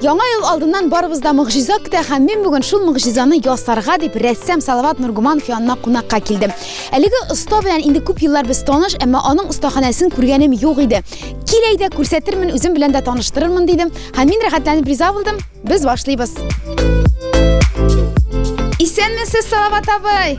Яңа ел алдыннан барыбыз да могҗиза көтә һәм мин бүген шул могҗизаны ясарга дип рәссам Салават Нургуманов янына кунакка килдем. Әлеге оста белән инде күп еллар без таныш, әмма аның остаханәсен күргәнем юк иде. Кил әйдә, күрсәтермен, үзем белән дә таныштырырмын, дидем һәм мин рәхәтләнеп риза булдым. Без башлыйбыз. Исәнмесез, Салават абый!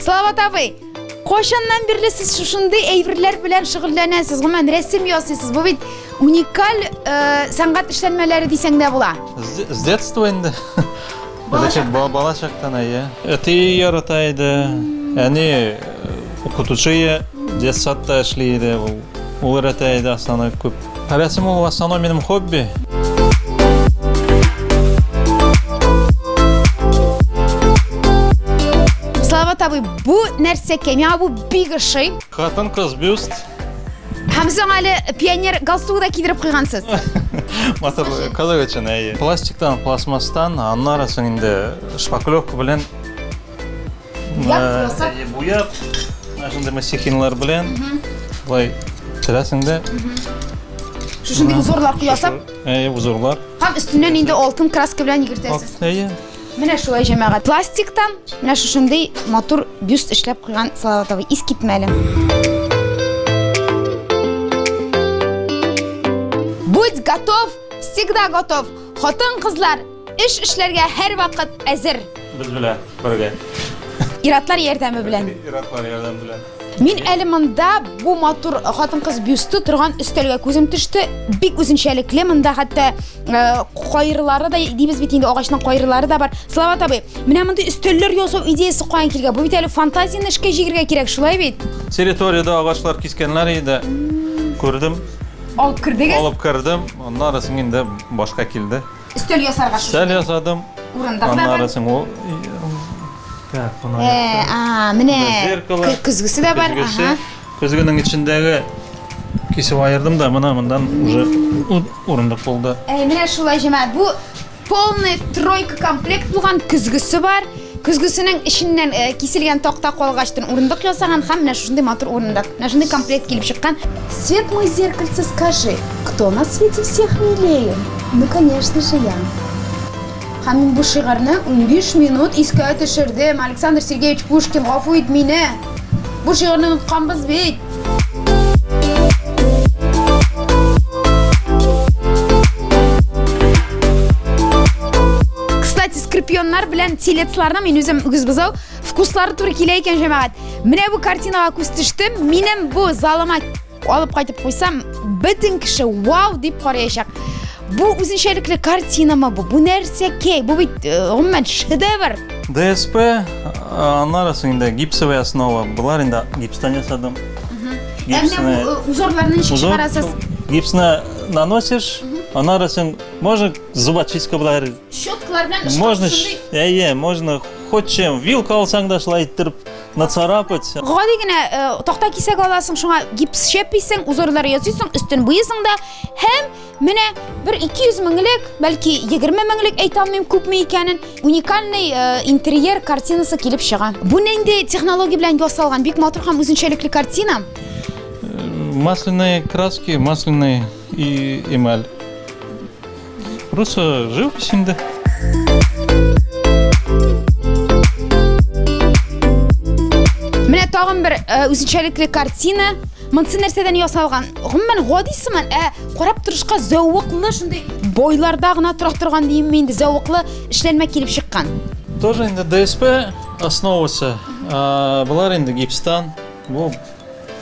Салават абый, кайчаннан бирле сез шушындый әйберләр белән шөгыльләнәсез? Гомумән рәсем ясыйсыз. Бу бит уникаль э, сәнгать эшләнмәләре дисәң дә була. З- С детства инде. Балачактан. Бала- Балачактан, әйе. Әти ярата иде. Әни э, укытучы детсадта эшли иде. Ул Ул рәтә иде Асана күп. Рәсем ул Асана минем хобби. Слава табы бу нәрсә кемя бу бик ошый. Хатын кыз бюст. Һәм соң әле пионер галстугы да кидереп куйгансыз. Матур кызык өчен әйе. Пластиктан, пластмасстан, аннары соң инде шпаклевка белән Буяк, буяк, шундый масихинлар белән былай сөрәсең дә. Шушындый узорлар куясың? Әйе, узорлар. Һәм өстеннән инде алтын краска белән йөгертәсез. Әйе. Менә шулай җәмәгать. Пластиктан менә шушындый матур бюст эшләп куйган Салаватовый ис китмәле. Будь готов, всегда готов. Хатын-кызлар Эш эшләргә һәрвакыт әзер. Без белән бергә. Иратлар ярдәме белән. Иратлар ярдәме белән. Мин әле монда бу матур хатын-кыз бюсты торган өстәлгә күзем төште. Бик үзенчәлекле монда хәтта э, кайырлары да дибез бит инде агачның кайырлары да бар. Салават абый, менә мондый өстәлләр ясау идеясы каян килгән? Бу бит әле фантазияне эшкә җигергә кирәк, шулай бит? Территориядә агачлар кискәннәр иде. Күрдем, Алып кердегез? алып кердем. Аннары соң инде башка килде. Өстәл ясарга шушы. Өстәл ясадым. Урындык да бар. Э, а, менә көзгесе дә бар. Ага. Көзгенең эчендәге кисеп айырдым да, мына мондан уже урындык булды. Әй, менә шулай җәмәгать. Бу полный тройка комплект булган, көзгесе бар. Көзгесенең эченнән киселгән такта калгачтын урындык ясаган һәм менә шушындый матур урындык, менә шундый комплект килеп чыккан. Свет мой зеркальце, скажи, кто на свете всех милее? Ну, конечно же, я. Һәм мин бу шигарьне унбиш минут искә төшердем. Александр Сергеевич Пушкин, гафу ит мине! Бу шигырьне онытканбыз бит. Кстати, скорпионнар белән телецларны мин үзем үгез бозау вкуслары туры килә икән, җәмәгать. Менә бу картинага күз төштем. Минем бу залыма Алып кайтып куйсам, бөтен кеше вау дип караячак. Бу үзенчәлекле картинамы бу? Бу нәрсә кей? Бу бит э, гомумән шедевр. ДСП, э, аннары соң инде гипсовая основа. Болар инде гипстан ясадым. Ә менә бу э, узорларны ничек Узор, чыгарасыз? Гипсны наносишь, аннары соң можно зубочистка белән Щеткалар белән Можно, ш- әйе, можно хоть чем. Вилка алсаң да шулай иттереп Нацарапать. Гади генә э, такта кисәк аласың, шуңа гипс шәписең, узорлар ясыйсың, өстен буйысың да һәм менә бер 200 меңлек, бәлки 20 меңлек әйтә алмыйм күпме икәнен, уникальный э, интерьер картинасы килеп чыга. Бу нинди технология белән ясалган? Бик матур һәм үзенчәлекле картина. Э, масляные краски, масляный и эмаль. Просто живопись инде. Менә тагын бер э, үзенчәлекле картина. Монсы нәрсәдән ясалган? Гомумән гади сыман, ә карап торышка зәвыклы шундый бойларда гына тора торган диемме инде зәвыклы эшләнмә килеп чыккан. Тоже инде ДСП основасы. Э, Булар инде гипстан. Бу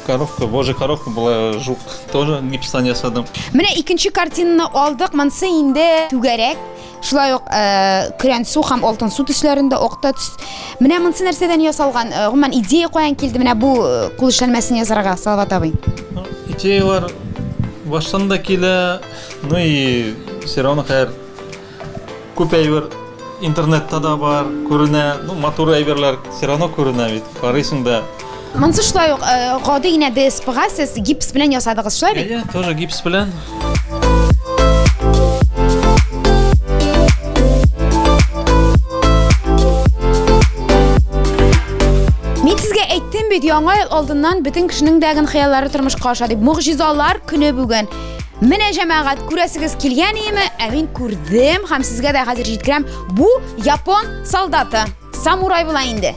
коровка, божий коровка була, жук, тоже гипстан ясадым. Менә икенче картинаны алдык, монсы инде түгәрәк, шулай ук э, көрән су һәм алтын су төсләрендә окта төс. Менә монсы нәрсәдән ясалган? Э, гомумән идея каян килде менә бу э, кул эшләнмәсен ясарга, Салават абый? Ну, Идеялар баштан да килә, ну и все равно хәер Күп әйбер интернетта да бар, күренә, ну матур әйберләр все равно күренә бит, карыйсың да. Монсы шулай ук э, гади генә ДСПга сез гипс белән ясадыгыз, шулай бит? Әйе, тоже гипс белән. бит яңа ел алдыннан бөтен кешенең дәген хыяллары тормышка аша дип. Могҗизалар көне бүген. Менә җәмәгать күрәсегез килгән иеме? Ә мин күрдем һәм сезгә дә хәзер җиткерәм. Бу япон солдаты, самурай була инде.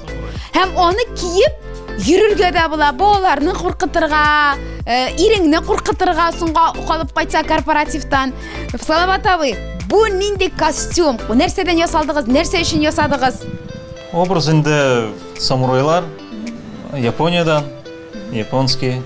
Һәм аны киеп йөрергә дә була, балаларны куркытырга, э, иреңне куркытырга соңга калып кайтса корпоративтан. Салават абый, бу нинди костюм? Бу нәрсәдән ясалдыгыз? Нәрсә өчен ясадыгыз? Образ инде самурайлар Япониядән, японский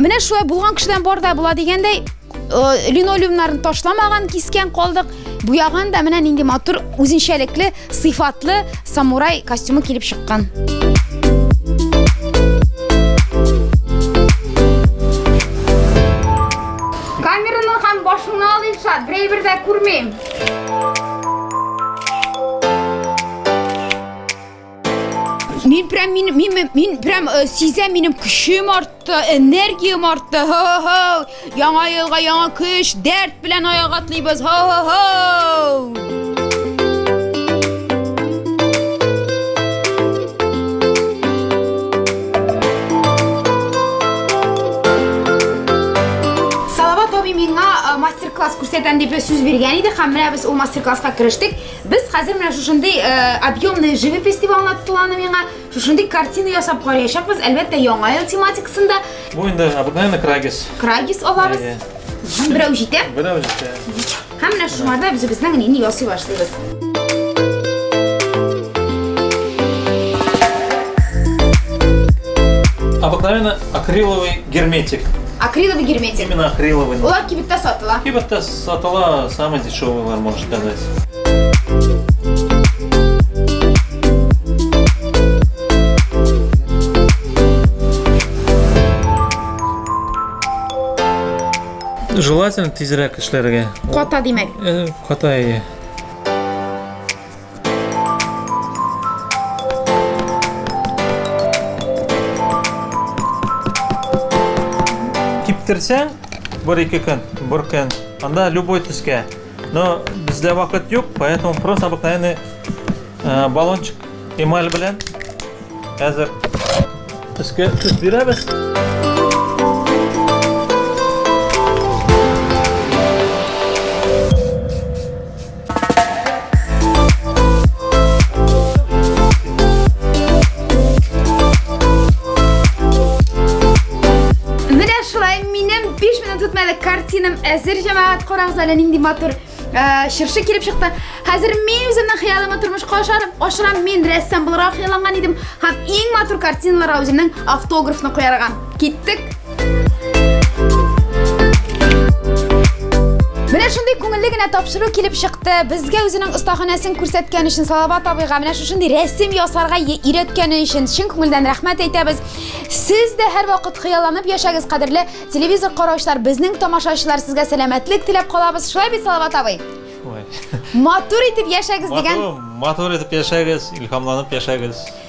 Менә шулай булган кешедән бар да була дигәндәй, э, линолеумнарын ташламаган, кискен калдык. Буяган да менә нинди матур, үзенчәлекле, сыйфатлы самурай костюмы килеп чыккан. Камераның һәм башыңны ал, Илшат, берәй-бер дә күрмим. Мин прям мин мин мин прям э, сизәм минем көчем артты, энергиям артты. Ха-ха. Яңа елга яңа көч, дәрт белән аяк атлыйбыз. Ха-ха. мастер-класс күрсәтәм дип сүз биргән иде һәм менә без ул мастер-класска керештек. Без хәзер менә шушындый объемный живопись дип аңлаттылар аны миңа. Шушындый картина ясап караячакбыз, әлбәттә, яңа ел тематикасында. Бу инде обыкновенный крагис. Крагис алабыз. Берәү җитә. Берәү җитә. Һәм менә шуларда без безнең нини ясый башлыйбыз. Обыкновенный акриловый герметик. Акриловый герметик. Именно акриловый. Улар кибеттә сатыла. Кибеттә Сатыла самый дешевыйлар, можно сказать. Желательно тизрәк эшләргә. Ката димәк. Э, ката, иә. Киптерсәң, бер-ике көн, бер көн, анда любой төскә. Но бездә вакыт юк, поэтому просто обыкновенный э, баллончик эмаль белән әзер төскә төс бирәбез. картинам әзер җәмәгать карагыз әле нинди матур чыршы килеп чыкты. Хәзер мин үземнең хыялыма тормышка ашарым. Ашырам мин рәссам буларак хыялланган идем һәм иң матур картиналарга үземнең автографны куярга. Киттек. Менә шундый күңелле генә тапшыру килеп чыкты. Безгә үзенең остаханәсен күрсәткән өчен Салават абыйга менә шушындый рәсем ясарга өйрәткәне өчен чын күңелдән рәхмәт әйтәбез. Сез дә һәрвакыт хыялланып яшәгез, кадерле телевизор караучылар, безнең тамашачылар сезгә сәламәтлек теләп калабыз. Шулай бит, Салават абый? Матур итеп яшәгез дигән. Матур, матур итеп яшәгез, илһамланып яшәгез.